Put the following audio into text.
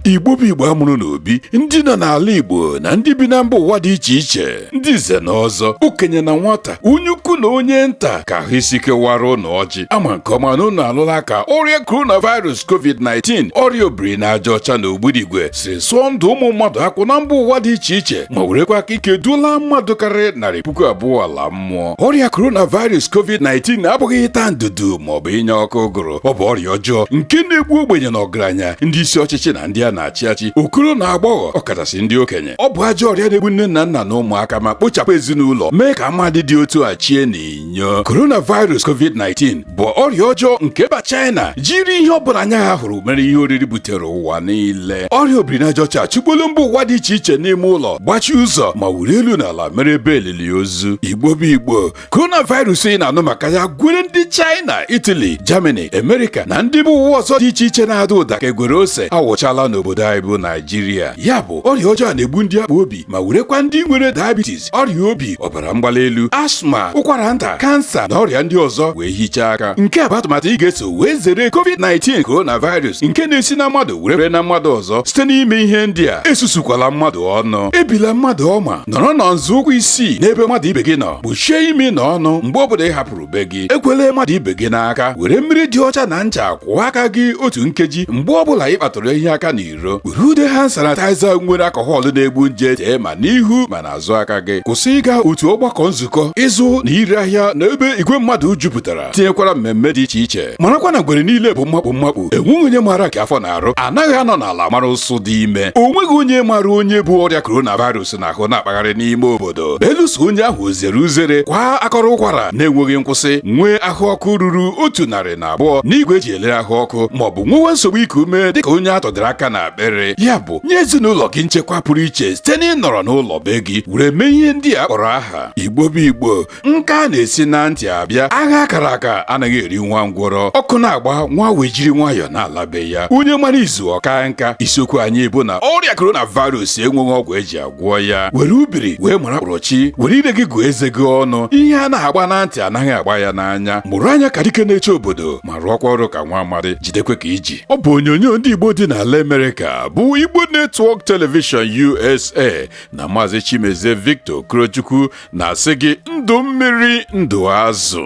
igbo bụ igbo amụrụ n'obi ndị nọ n'ala igbo na ndị bi na mba ụwa dị iche iche ndị nze na ọzọ okenye na nwata onye ukwu na onye nta ka ahụ isi ike wara ụnụ ọjị ama m nke ọma na ụnụ alụla ka ọrịa coronavirus covid-19 ọrịa obiri n'aja ọcha na ogbudigwe si sụọ ndụ ụmụ mmadụ akwụ na mba ụwa dị iche iche ma werekwa aka ike duola mmadụ karịrị narị puku abụọ ala mmụọ ọrịa coronavirus covid-19 abụghị ịta ndudu maọbụ ịnya ọkụ ụgụrụ ọ bụ ọrịa ọjọọ nke na-egbu ogbenye na ọgaranya ndị isi ọchịchị na ndị a na-achị achị okoro na agbọghọ ọkachasị ndị okenye ọ bụ ajọ ọrịa na-egbu nne na nna na ụmụaka ma kpochapụ ezinụlọ mee ka ama ndị dị otu a chie na inyo coronavirus covid-19 bụ ọrịa ọjọọ nke mba China jiri ihe ọ bụla anya ha hụrụ mere ihe oriri butere ụwa niile ọrịa obirinajaọcha achụkpọla mba ụwa dị iche iche n'ime ụlọ gbachie ụzọ ma were elu na ala mere ebe elili ozu igbo bụ igbo coronavirus ị na-anụ maka ya gwere ndị China Italy Germany America na ndị mba ụwa ọzọ dị iche iche na-ada ụda ka egwere ose awụchala n'obodo anyị bụ Naijiria ya bụ ọrịa ọjọọ na-egbu ndị akpọ obi ma werekwa ndị nwere diabetes ọrịa obi ọbara mgbali elu asma ụkwara nta kansa na ọrịa ndị ọzọ wee hichaa aka nke a bụ atụmatụ ị ga-eso wee zere covid-19 coronavirus nke na-esi na mmadụ were fere na mmadụ ọzọ site n'ime ihe ndị a esusukwala mmadụ ọnụ ebila mmadụ ọma nọrọ na nzọụkwụ isii n'ebe mmadụ ibe gị nọ kpuchie imi na ọnụ mgbe ọ bụla ị hapụrụ be gị ekwele mmadụ ibe gị n'aka were mmiri dị ọcha na ncha kwụọ aka gị otu nkeji mgbe ọ bụla ị kpatụrụ ihe aka n'iro iro were ude hand sanitizer nwere alcohol na-egbu nje tee ma n'ihu ma n'azụ aka gị kwụsị ịga otu ọgbakọ nzukọ ịzụ na ire ahịa na ebe igwe mmadụ jupụtara tinyekwara mmemme dị iche iche marakwa na ngwere niile bụ mmakpu mmakpu enweghị onye maara nke afọ na-arụ anaghị anọ n'ala mara ụsụ dị ime o nweghị onye maara onye bu ọrịa coronavirus n'ahụ na-akpagharị n'ime obodo belụsọ onye ahụ zere uzere kwaa akọrọ ụkwara na-enweghị nkwụsị nwee ahụ ọkụ ruru otu narị na abụọ n'igwe eji elere ahụ ọkụ ma ọ bụ nwewe nsogbu iku ume dịka onye a tọdịrị aka n'akpịrị ya bụ nye ezinụlọ gị nchekwa pụrụ iche site n'ịnọrọ n'ụlọ be gị were mee ihe ndị a kpọrọ aha igbo bụ igbo nka na-esi na ntị abịa agha a kara aka anaghị eri nwa ngwọrọ ọkụ na-agba nwa awọ ejiri nwayọọ na-ala be ya onye mara izu ọ kaa nka isiokwu anyị bụ na ọrịa coronavirus enweghị ọgwụ eji agwọ gwọ ya were ubiri wee mara mkpụrọchi were ire gị gụọ eze gị ọnụ ihe a na-agba na ntị anaghị agba ya n'anya mụrụ anya ka dike na-eche obodo ma rụọkwa ọrụ ka nwa amadi jidekwe ka i ji ọ bụ onyonyo ndị Igbo dị n'ala Amerịka bụ Igbo Network Television USA na Maazị Chimezie Victor Okorochukwu na-asị gị ndụ mmiri ndụ azụ